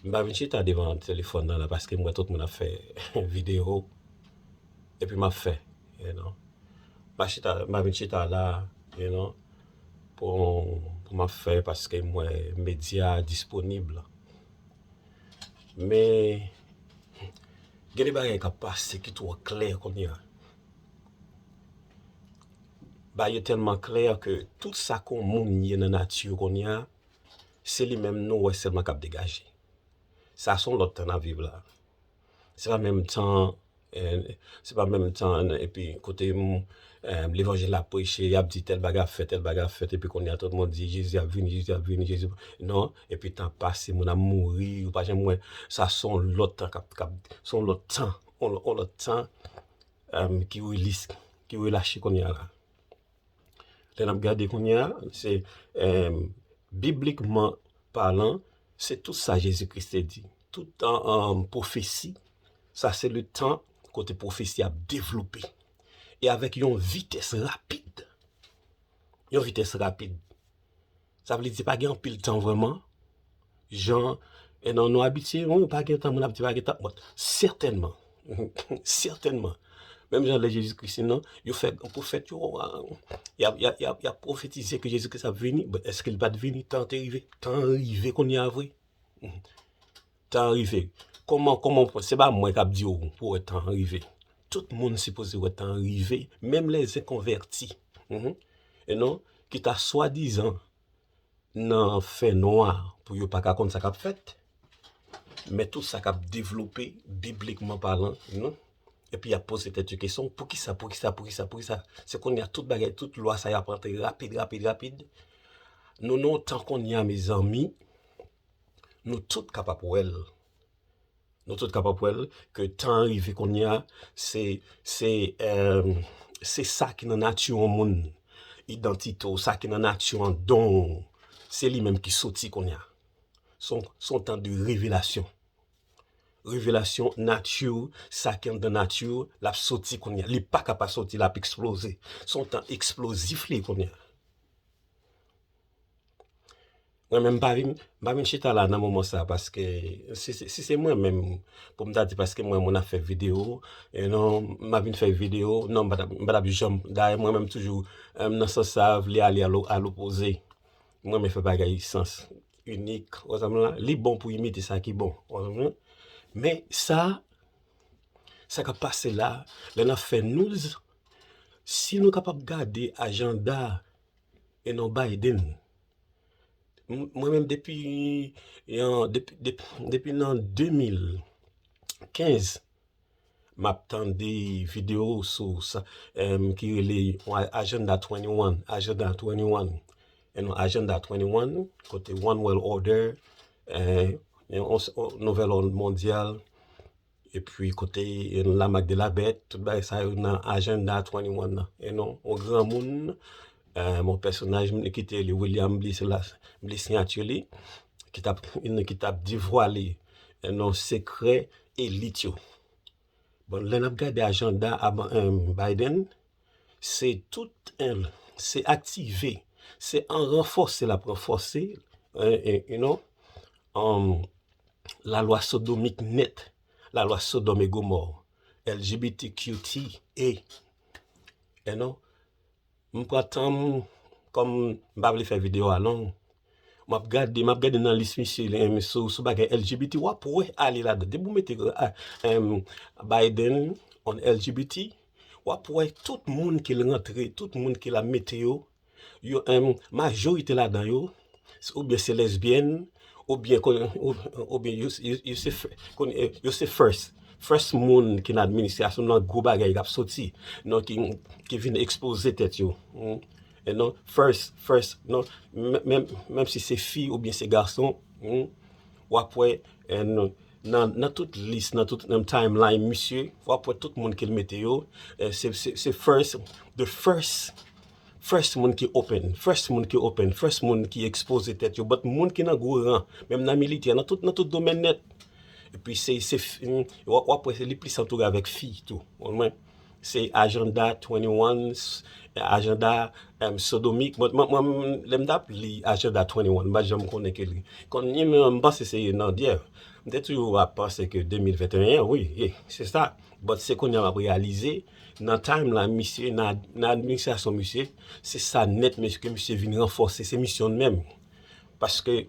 M pa vin chita devan telefòn nan la paske m wè tout moun ap fè videyo epi m ap fè you know m pa chita m pa vin chita la you know pou pou m ap fè paske m wè medya disponib men gen de bagay k ap pase ki twò klè kounye a bagay yo tèlman klè ke tout sa ke yon moun ye nan nati kounye a Se li menm nou wè sèlman k ap degaje. Sa se yon lòt tan n ap viv la. Se pa menm tan, se pa menm tan epi kote levanjil la ap preche, y ap di tèl bagay ap fèt, tèl bagay ap fèt epi kounye a tout moun di Jezi ap vini, Jezi ap vini, Jezi ap vini. Non, epi tan ap pase, moun ap mouri, ou pa janm wè. Sa se yon lòt tan k ap, se yon lòt tan, yon lòt tan ki relase kounye a la. Lè n ap gade kounye a, se biblikman palan, se tout sa Jezi Kris te di. Tout pwofesi, sa se le tan kote pwofesi ap devlope. E avèk yon vitès rapid, yon vitès rapid. Sa vle di pa gen anpil tan vreman, jan e nan nou abitye, ou pa gen tan, moun ap di pa gen tan, bon, sètènman, sètènman, menm jan lè Jezi Kris te nan, yo fè gran pwofèt yo, yap pwofetize ke Jezi Kris ap vini, bon, eske li pat vini, tan te rive, tan rive kounye a vre. Tan an rive. Koman, koman w, se pa mwen kap di w pou wè tan an rive. Tout moun sipoze wè tan an rive, menm lè zen konvèti. Hum you know, ki ta swadizan nan fè nwa pou yo pa ka konn sa kap fèt. Men tout sa kap devlope biblikman palan, you know. Epi yap poze tèt yo kesyon, poukisa, poukisa, poukisa, poukisa. Se konnya tout bagay, tout lwa sa yo ap antre rapid, rapid, rapid. Nou nan yon tan konnya mezanmi. Nou tout kapab wèl, nou tout kapab wèl ke tan an rive kounya se, se, emm, se sa ki nan nati yon moun, idantite w, sa ki nan nati w, don w, se li menm ki soti kounya. Son, son tan de revelasyon. Revelasyon nati w, sa ki anndan nati w, l ap soti kounya. Li pa ka pa soti, l ap eksploze. Son tan eksplozif li kounya. Mwen menm m pa vin m pa vin chita la nan moman sa paske si se mwen menm pou m ta di paske m wè moun ap fè video e non m ap vin fè video non m pa tap janm dayè mwen menm toujou nan sans sa vle ale a lopoze m renmen fè bagay sans inik ou konprann m lan li bon pou imite sa ki bon ou konprann m lan men sa sa k ap pase la lè n ap fè news si nou kapab gade ajanda e non Biden Mwen menm depi depi nan 2015 map tande video ou sou sa ki rele agenda 21 agenda 21 e nou agenda 21 kote one world order yon nouvel òd mondyal Epi kote la mak de la bèt, tout bagay sa yo nan ajanda 21 nan. E non, on gran moun, mon pèsonaj mwen ki te li William Bliss la, Bliss Signature li, ki tap, ki tap devwale e non sekrè elit yo. Bon, lè nap gade ajanda Biden, Se tout en, se aktive, se an ranfòse l ap ranfòse you know lalwa sodomik nèt, lalwa sodòm e gomò, LGBTQTA you know M pran tan m kòm m pa vle fè videyo a long Map gade map gade nan lis misye sou bagay LGBT wap wè ale ladan depi ou mete Biden on LGBT wap wè tout moun ke l rantre tout moun ke la mete yo majorite ladan yo ou byen se lesbyèn ou byen yo se first first moun ki nan administrasyon nan gwo bagay kap soti ki vin ekspoze tèt yo. And non first first non menm si se fi oubyen se gason wap wè and nan tout lis nan tout menm time line misye wap wè tout moun kel mete yo se first the first first moun ki open first moun ki open first moun ki ekspoze tèt yo but moun ki nan gwo ran menm nan militè nan tout domèn nèt epi se wap wè li plis antoure avèk fi tou Se ajanda 21 ajanda sodomik mwen mwen lèm tap li ajanda 21 m pa janm konnen ke li kon ni menm m panse se nan dyè m te toujou ap panse ke 2021 wi ye se sa but se konnya map reyalize nan time la misye nan administrasyon misye se sa nèt mesye ke misye vin ranfòse se misyon l menm paske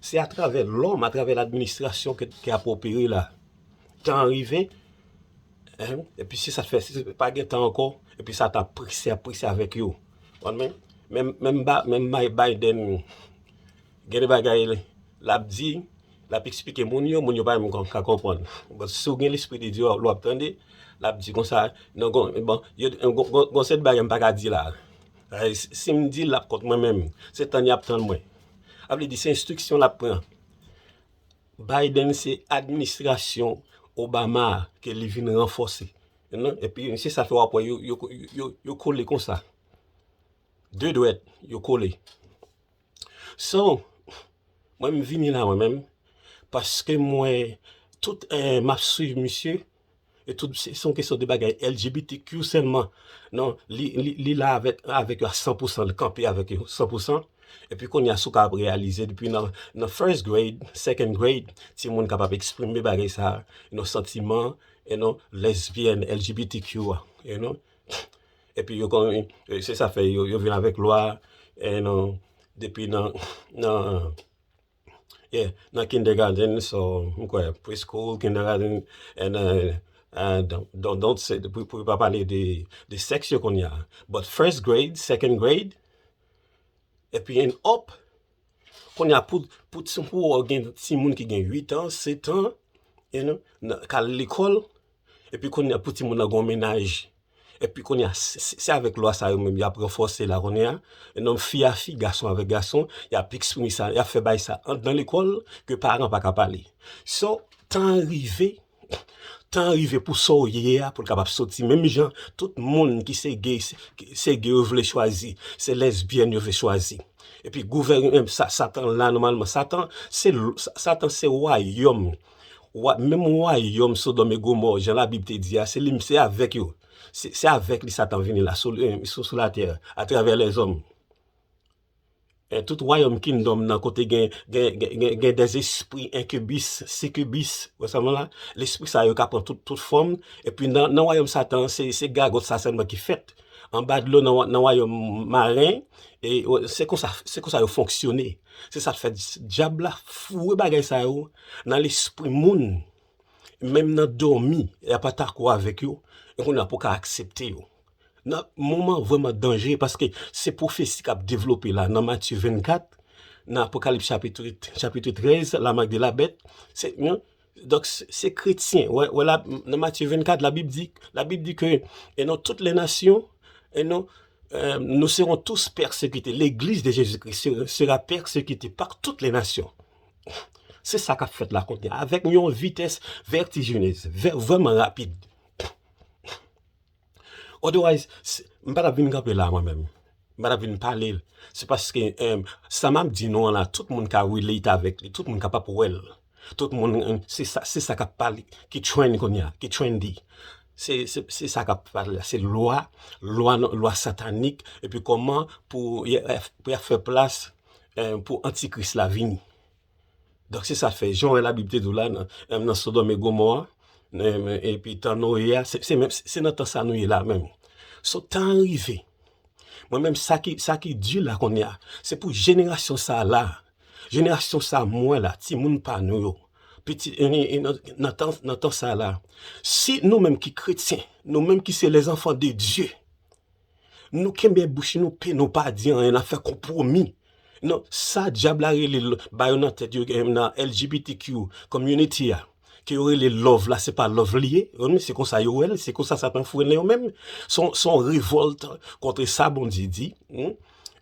Se atravè lòm, atravè ladministrasyon ki ap opere la. Tan an rive, epi se sa k fè, se pa gen tan ankò, epi sa ta prese ap prese avèk yo. Menm Biden, gen de bagay l ap di, l ap esplike moun yo, moun yo pa menm ka konprann. Bon, si w gen lespri de Dye, w ap tande, l ap di konsa, nan gon, bon, gon seri de bagay m pa ka di la. Si m di l, l ap kont mwen menm. Se tann y ap tann mwen. A vle di se enstriksyon lap pran. Biden se administrasyon Obama a ke li vin ranfòse. E pi se sa fè wap wè yo kole konsa. De dwèt yo kole. So, mwen m vini la mwen menm paske mwen tout map swiv misye. E tout se son kesyon de bagay LGBTQ sèlman. Non, li la avèk yo a 100 pousan, li kanpe avèk yo 100 pousan. E pi kounye a sou ka ap reyalize depi nan first grade, second grade, ti moun kapab eksprime bagay sa a, yon santiman, e non, lesbyèn, LGBTQ a, e non. E pi yo konnen, se sa fè yo vin avèk lwa, e non, depi nan, nan. Yeah, nan kindergarten so m kwè preschool, kindergarten and don't don't say pou yo pa pale de sèks yo kounye a but first grade, second grade epi and up kounye a pou pou ou gen timoun ki gen 8 ans, 7 ans you know k al lekòl Epi kounya pou timoun nan gon mennaj epi kounya se avèk lwa sa yo menm yap ranfòse la kounya nonm fi a fi gason avèk gason yap eksprime sa yap fè bay sa andan lekòl ke paran paka pale so tan an rive tan an rive pou sa w ye a pou l kapab soti menm jan tout moun ki se gay se gay yo vle chwazi se lesbyèn yo vle chwazi epi gouvèneman satan la nòmalman satan se satan se wayòm Menm wayòm Sodòm e Gomò, jan Labib te di a, se li, se avèk yo, se avèk li Satan vini la, sou latè, atravè lèzòm. Tout wayòm kingdom nan kote gen dè espri enkibis, sikibis, wè sa m wè la? Lespri sa yo ka pran tout fòm, epi nan wayòm Satan an, se gagòt sa sèlman ki fèt. Anba dlo nan wayòm maren, se konsa yo fonksyone. Se sa k fè Dyab la foure bagay sa yo nan lespri moun, menm nan dòmi, y ap atako avèk yo, e kounye a pou w ka aksepte yo. Nan moman vrèman danje, paske se pwofesi k ap devlope la nan Matye 24, nan Apokalips chapit 13, Lamak de la Bèt, se yon Donk se kretyen, wè la nan Matye 24 la bib di, la bib di ke e nan tout lè nasyon e nan nou seron tous pèsekite, legliz de Jezi Kris sera pèsekite pa tout lè nasyon. Se sa kap fèt la kounye a avèk yon vitès vètijinez, vrèman rapid. Otherwise, m pa t ap vin kanpe la mwen menm, m pa t ap vin pale l. Se paske sa m ap di nou an la, tout moun ka relate avèk li, tout moun kapab wè l. Tout moun, se sa k ap pale, ki trend kounye a, ki trendy. Se sa k ap pale la, se lwa, lwa satanik, epi kòman pou y ap fè plas pou antikris la vini. Donk se sa fè, jan w wè Labib te di w la, nan Sodòm e Gomò a, epi tan Noye a, se nan tan sa a nou ye la a menm. So, tan an rive. Mwen menm, sa ki di la kounye a, se pou jenerasyon sa a la, jenerasyon sa a mwen la, timoun pa nou yo, nan tan sa a la, si nou menm ki kretyen, nou menm ki se lèzanfan de Dye, Nou kenbe bouch nou pen nou pa di anyen nap fè konpwomi nan sa dyab la rele ba yo nan tèt yo gen nan LGBTQ community a ke yo rele love la se pa love li ye humm se konsa yo wèl se konsa satan fou nen yo menm son son revòlt kontre sa Bondye di humm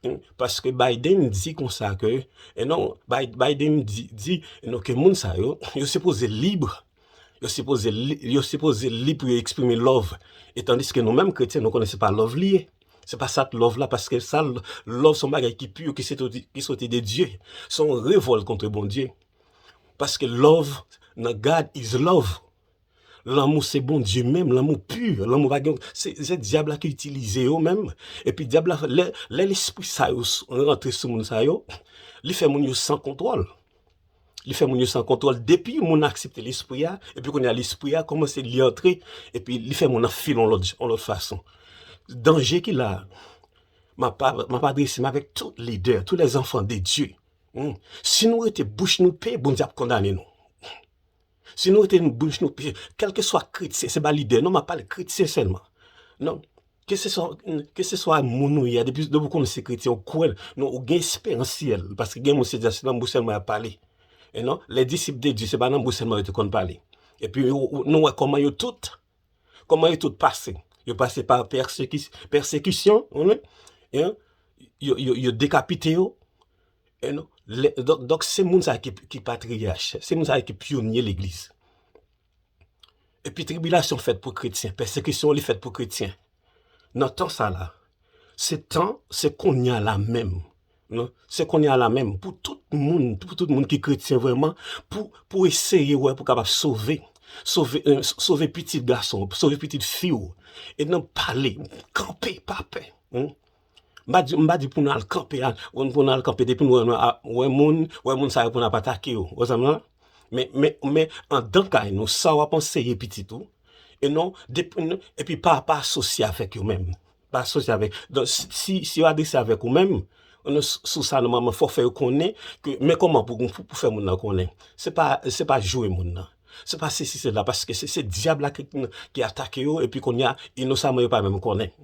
humm paske Biden di konsa ke e non Biden di di non ke moun sa yo yo sipoze libre Yo sipoze li pou yo eksprime love e tandiske nou menm kretyen nou konnen se pa love li ye. Se pa sa love la paske sa love son bagay ki pur ki soti de Dye. Son revòlt kontre Bondye. Paske love nan God is love. Lanmou se Bondye menm, lanmou pur, lanmou pa gen se dyab la ki itilize yo menm epi dyab la lè lespri sa yo rantre sou moun sa yo li fè moun yo san kontwòl. Li fè moun yo san kontwòl depi moun nan aksepte lespri a, epi kounye a lespri a kòmanse li antre epi li fè moun nan feel yon lòt yon lòt fason. Danje ki la a, map map adrese m avèk tout lidè, tou lè zanfan de Dye, humm, si nou rete bouch nou pe, Bondye ap kondane nou. Si nou rete bouch nou pe, kèlkeswa kretyen, se pa lidè non map pale, kretyen sèlman. Non. Ke se swa, ke se swa moun ou ye a, depi ou konnen se kretyen ou kwè, non ou gen esperans syèl, paske gen moun se di a se nan bouch sèlman yap pale. E non, les disciples de Dieu se pa nan bouch sèlman yo te konn pale. Epi nou wè kòman yo tout, kòman yo tout pase. Yo pase pa pèsekis, pèsekisyon, ou konnen, e non, yo, yo, yo dekapite yo, e non, lè, donk, donk se moun sa ki, ki patriyach, se moun sa ki pyonye legliz. Epi tribilasyon fèt pou kretyen, pèsekisyon li fèt pou kretyen. Nan tan sa la, se tan, se konya la menm, non, se konya la menm pou tout moun, pou tout moun ki kretyen vreman, pou, pou eseye wè pou kapab sove, sove, sove pitit gason, sove pitit fi ou, e nan pale, kanpe, pa pè, M pa di pou nou al kanpe, pou nou al kanpe depi nou wè moun, wè moun sa yo pou nou ap atake yo. Ou wè sa m di la? Men, andan kay nou, sa w ap anseye pitit ou, e non, epi pa asosye avèk yo menm. Pa asosye avèk yo. Donk, si yo adrese avèk ou menm, sou sa nòmalman fò w fè yo konnen ke men kòman pou w fè moun nan konnen. Se pa jwe moun nan. Se pa sesi sela. Paske se dyab la ki atake yo epi kounye a, inosamman yo pa menm konnen.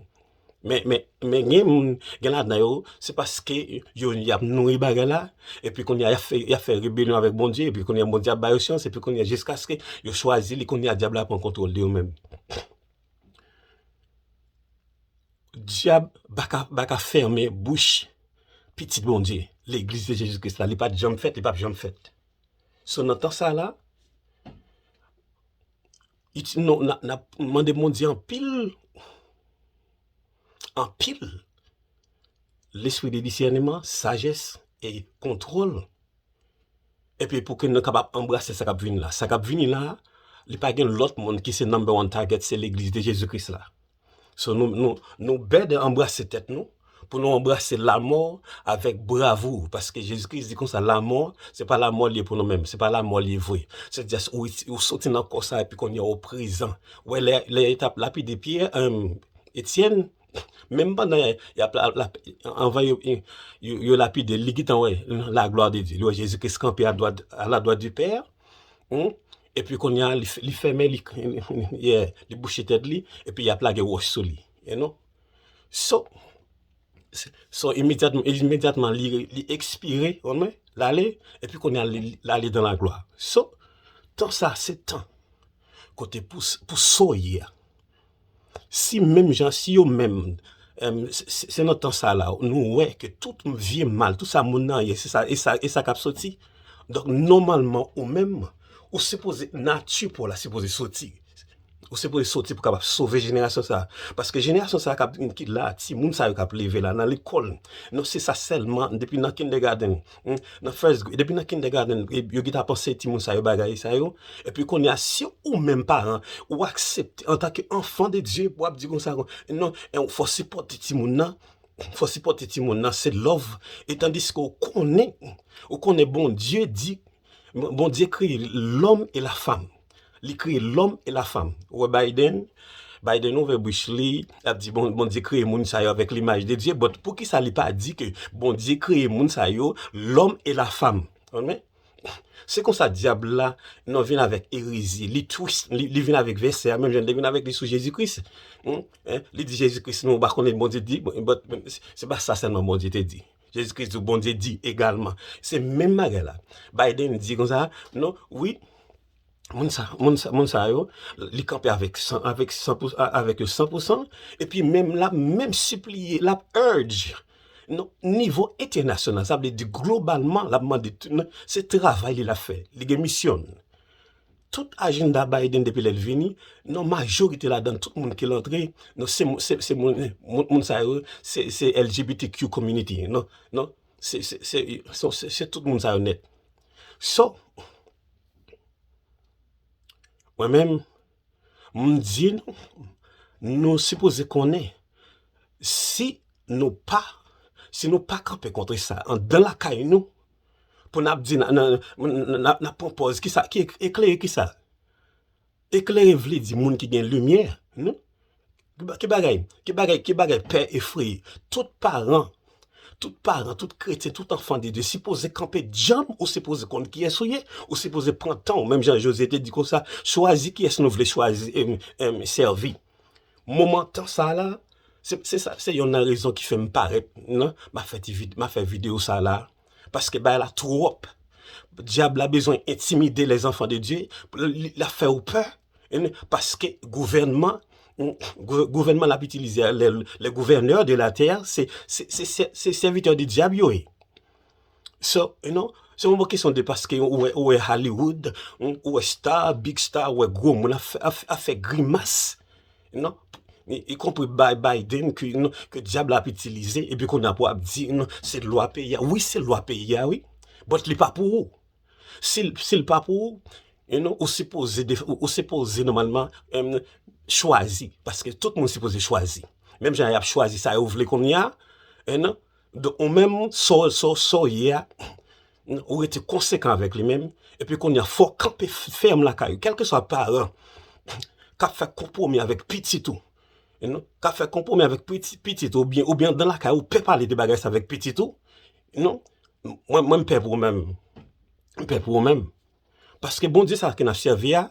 Men gen moun, gen ladan yo, se paske yo y ap nouri bagay la, epi kounye a, y ap fè rebelyon avèk Bondye, epi kounye a, Bondye ap ba yo syans, epi kounye a, jiskaske yo chwazi li, kounye a, Dyab la pran kontwòl de yo menm. Dyab pa ka fèmen bouch pitit Bondye, Legliz de Jezi Kris la. Li pa t janm fèt, li pap janm fèt. So, nan tan sa la, Non, nap mande Bondye anpil, anpil lespri de disèneman, sajès e kontwòl epi pou ke nou kapab anbrase sa kap vini la. Sa kap vini la, li pa gen lòt moun ki se number one target, se legliz de Jezi Kris la. So nou bèd de anbrase tèt nou pou nou anbrase lamò avèk bravou paske Jezi Kris di konsa lamò se pa lamò li ye pou nou menm, se pa lamò li ye vre. Se just ou soti nan kò sa epi kounye a ou prezan. Wè lè yo tap lapide Pyè, Etyèn, menm pandan yap anvan yo lapide l li gentan wè la glwa de Dye, li wè Jezi Kris kanpe aladwat di Pè a, Epi konnya li fèmen li yeah li bouche tèt li epi yap lage wòch sou li you know so so imedyatman li ekspire ou konprann lale epi konnya lale dan la glwa so tan sa se tan kote pou soyi a. Si menm jan, si yo menm, se nan tan sa la, nou wè ke tout vye mal, tout sa moun nan ye, se sa, e sa k ap soti. Donk, nòmalman, ou menm, ou sipoze, nati pa w la sipoze soti. Ou sipoze soti pou kapab sove jenerasyon sa a. Paske jenerasyon sa a k ap vin, ki la, timoun sa yo k ap leve la, nan lekòl, nou se sa sèlman, depi nan kindègadenn. Nan first grade, depi nan kindergarten yo gin t ap anseye timoun sa yo bagay sa yo, epi kounye a si ou menm paran ou aksepte antanke anfan de Dye pou w ap di konsa non, fò w sipòte timoun nan, fò w sipòte timoun nan se lòv e tandiske ou konnen, ou konnen Bondye di, Bondye kreye lòm e lafanm. Li kreye lòm e la fanm. Ou wè Biden, Biden ouvè bouch li, lap di bon Bondye kreye moun sa yo avèk limaj de Dye, but poukisa li pa di ke Bondye kreye moun sa yo, lòm e la fanm. Amen. Se konsa dyab la nan vin avèk erezi, li twist, li, li vin avèk vèsè a menm jan li te vin avèk li sou Jezi Kris. Hum, eh, li di Jezi Kris nou pa konnen Bondye di, but se pa sa sèlman Bondye te di. Jezi Kris di w Bondye di egalman. Se menm bagay la. Biden di konsa, non, wi, moun sa, moun sa, moun sa yo, li kanpe avèk san, avèk san pou, avèk yo san pou san, epi menm l ap menm sipliye, l ap urge, non, nivo entènasyonal, sa vle di globalman l ap mande, se travay li l ap fè, li gen misyon l. tout ajenda Biden depi lèl vini nan majorite ladan tout moun kel antre nan se moun sa yo se LGBTQ community nan se tout moun sa yo nèt so mwen menm m di nou nou sipoze konnen si nou pa si nou pa kanpe kontre sa andan lakay nou Pou nap di nan nan nan nap pran pòz ki sa ki eklere ki sa? Eklere vle di moun ki gen limyè non ki bagay ki bagay ki bagay pè efreye tout paran tout paran tout kretyen tout anfan de Dye sipoze kanpe djanm ou sipoze konn kiyès ou ye ou sipoze pran tan ou menm jan Jozye te di konsa chwazi kiyès nou vle chwazi sèvi. Moman tan sa la, se sa se yonn nan rezon ki fèm parèt nan, ma fè ti vid, ma fè video sa la, paske bagay la twòp, dyab la bezwen entimide les enfants de Dieu, la fè ou pè, paske gouvènman, gouvènman lap itilize a, les gouverneurs de la terre, se sèvitè de dyab yo ye. So, you know, se yon bon kesyon de paske ou wè, ou wè Hollywood, ou wè star, big star, ou wè gwo moun ap fè, ap fè grimas, you know, y konpri bay Biden ke, you know, ke dyab la ap itilize, epi kounye a pou ap di, you know, se lwa peyi a, wi se lwa peyi a wi, but li pa pou ou. Si l, si l pa pou ou, you know, ou sipoze de, ou sipoze nòmalman, em, chwazi, paske tout moun sipoze chwazi. Menm jan y ap chwazi sa yo vle kounye a, you know. Donk ou menm sa w ye a, ou rete konsekan avèk li menm, epi kounye a fò w kanpe fèm lakay ou. Kèlkeswa paran k ap fè konpwomi avèk pitit ou, k ap fè konpwomi avèk pitit ou oubyen anndan lakay ou pè pale de bagay sa avèk pitit ou, mwen m pè pou ou menm. M pè pou ou menm. Paske Bondye sa ke n ap sèvi a,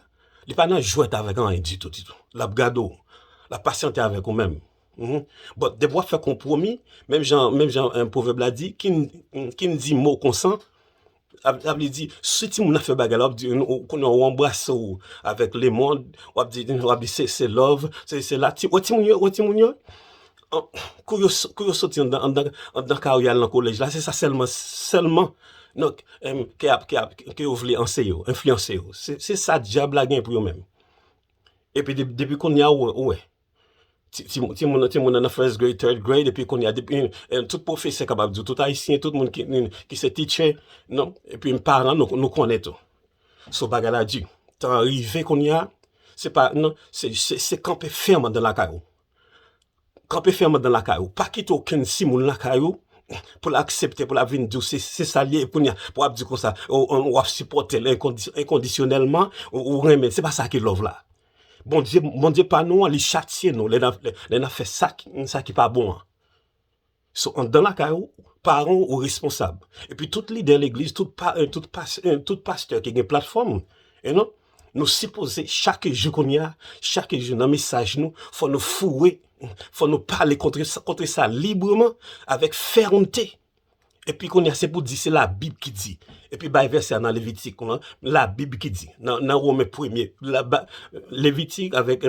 li pa nan jwèt avèk anyen ditou ditou. L ap gade w, l ap pasyante avèk ou menm. Bon, depi w ap fè konpwomi, menm jan menm jan pwovèb la di, ki n ki n di mo konsan, sa vle di, si timoun nan fè bagay la, w ap di, ou konnen ou anbrase w avèk lemond, w ap di se love, se la, wè timoun yo, wè timoun yo? Kou yo kou yo soti anndan anndan anndan kay ou y al nan kolèj la se sa sèlman sèlman nan ke ap ke ap ke yo vle anseye yo enfliyanse yo se sa dyab la gen pou yo menm epi depi kounye a ou wè ti ti ti timoun nan timoun nan nan first grade third grade epi kounye a depi tout pwofesè kapab di w tout ayisyen tout moun ki ki se teacher nan epi paran nou nou konnen tou so bagay la di tan an rive kounye a se pa nan se se kanpe fèm anndan lakay ou Kanpe fèm andan lakay ou, pa kite okenn timoun lakay ou pou l aksepte pou l ap vin di w se sa l ye, epi kounye a pou w ap di konsa w ap sipòte l enkondisyonèlman, ou renmen l, se pa sa ki love la. Bondye, Bondye pa nou an li chatye nou lè n ap fè sa ki pa bon an. So anndan lakay ou, paran w ou responsab. Epi tout lidè legliz, tout paren, tout pas, e tout pastè ki gen platfòm, e non, nou sipoze chak jou kounye a, chak jou nan mesaj nou, fò nou foure, fò nou pale kontre sa, kontre sa libreman, avèk fèmte. Epi kounye a se pou di se labib ki di. Epi bay vèsè a nan Levitik lan, labib ki di. Nan nan Women premye, la ba, Levitik avèk.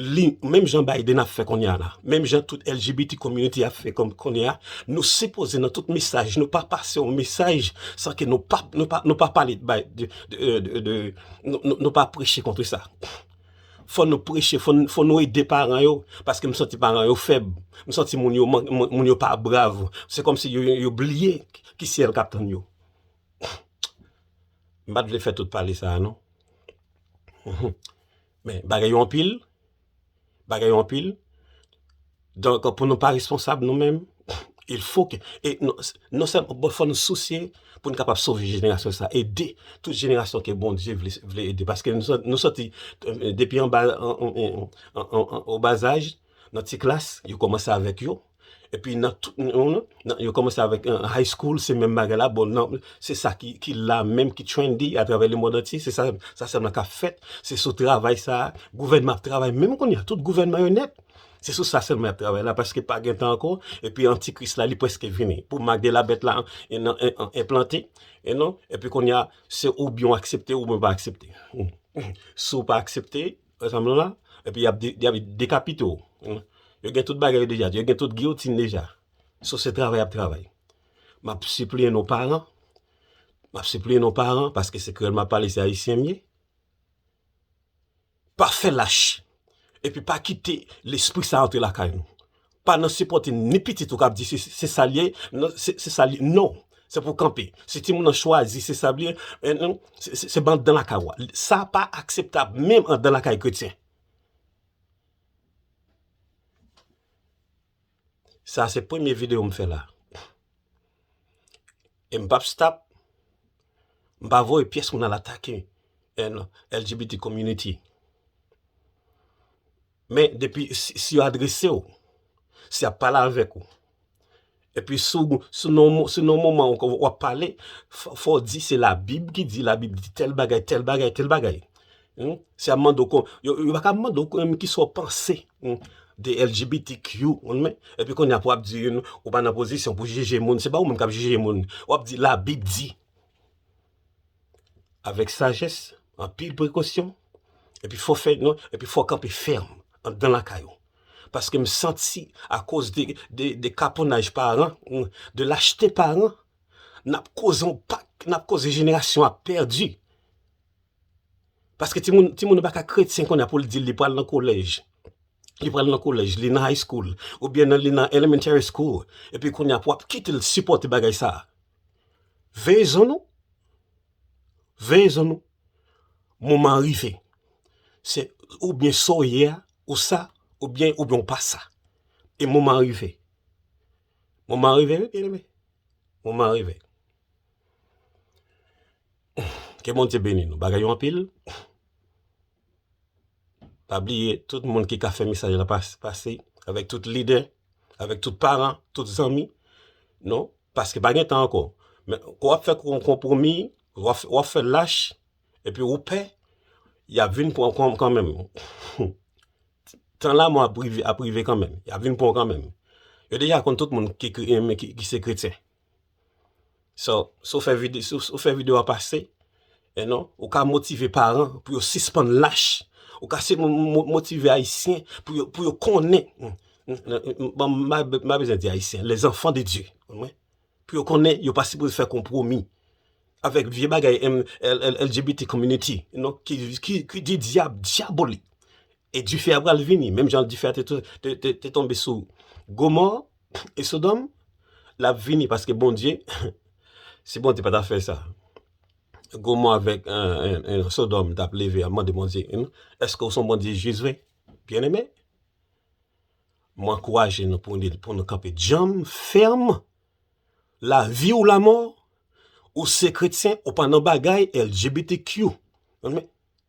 Li menm jan Biden ap fè konnya la, menm jan tout LGBT community ap fè konnya, nou sipoze nan tout mesaj nou pa pase yon mesaj san ke nou pa nou pa pale de bay de nou pa preche kontre sa. Fò nou preche, fò nou ede paran yo paske m santi paran yo fèb, m santi moun yo moun yo pa brav, se kòm si yo bliye ki syèl kap tann yo. M pat vle fè tout pale sa a non. Men, bagay yo anpil, bagay yo anpil, donk pou nou pa responsab nou menm, il fo ke, e non sèlman, bon fò nou sousye pou nou kapab sove jenerasyon sa, ede tout jenerasyon ke Bondye vle ede, paske nou sòti depi anba, o bazaj, nan ti klas, yo kòmanse avèk yo, Epi nan tout nan yo komanse avèk high school se menm bagay la bon nan se sa ki la menm ki trendy a travè le mond antye se sa sèlman kap fèt se sou travay sa gouvènman ap travay menm kounye a tout gouvènman yo nèt se sou sa sèlman yap travay la paske pa gen tan ankò epi antikris la li prèske vini pou mak de la bèt la enplante epi kounye a se oubyen w aksepte oubyen w pa aksepte si w pa aksepte Ansanm lan la, epi y ap dekapite w. Yo gen tout bagay yo deja, yo gen tout giyotin deja. So se travay y ap travay. M ap sipliye nou paran, m ap sipliye nou paran, paske se kreyòl m ap pale, se ayisyen m ye, pa fè lach, epi pa kite lespri sa antre lakay nou. Pa nan sipòte ni pitit ou kap di se sal ye se sal ye non se pou kanpe si timoun nan chwazi se sal ye se ban dan lakay ou a sa pa akseptab menm andan lakay kretyen sa se premye video m fè la e m pap stop m pa voye pyès moun al atake LGBT community. Men depi si yo adrese w, si y ap pale avèk ou, epi si nan moman an w ap pale, fò w di se Labib ki di, Labib di tèl bagay, tèl bagay, tèl bagay. Si y ap mande w, yo pa ka mande w menm ki sa w panse de LGBTQ, epi kounye a pou w ap di ou pa nan pozisyon pou jije moun, se pa ou menm k ap jije moun, w ap di Labib di. avèk sajès, anpil prekosyon, epi fò fè non, epi fò kanpe fèm anndan lakay ou. Paske m santi akoz de kaponnaj paran, de lachte paran, n ap koze yon pak, n ap koze jenerasyon ap pèdi. Paske timoun, timoun yo pa ka kretyen kounye a pou l di li pral nan kolèj, li pral nan kolèj, li nan high school, oubyen li nan elementary school, epi kounye a pou ap kite l sipòte bagay sa a. Veye zon nou. Veye zon nou. Moman an rive. Se ou byen so ye a, ou sa, ou byen ou byen ou pa sa. E moman an rive. Moman an rive, byen eme. Moman an rive. Ke Bondye beni nou. Bagay yo anpil. Pa bliye tout moun ki ka fè mesaj la pase avèk tout lidè, avèk tout paran, tout zanmi nou, paske pa gen tan ankò. Men, kou ap fè kon konpwomi, w ap fè lach, epi ou pè, y ap vin pran kon kanmenm. Tan lanmò ap rive kanmenm, y ap vin pran kanmenm. Yo deja konn tout moun ki se kretyen. So, si w fè vide, si w fè video a pase, e non, ou ka motive paran pou yo sispann lach. Ou ka se motive ayisyen pou yo, pou yo konnen, bon, mwen bezwen di ayisyen, les enfants de Dieu, konprann? Pou yo konnen yo pa sipoze fè konpwomi avèk vye bagay LGBT community, non, ki di dyab, dyabolik. E dife a pral vini, menm jan dife a te tonbe sou Gomò e Sodòm, l ap vini paske Bondye, si Bondye pa ta fè sa, Gomò avèk Sodòm t ap leve ap mande Bondye, èske ou se yon Bondye jis vre? Byeneme, m ankouraje nou pou nou kanpe djanm, fèm, lavi ou lamò, ou se kretyen ou pa nan bagay LGBTQ,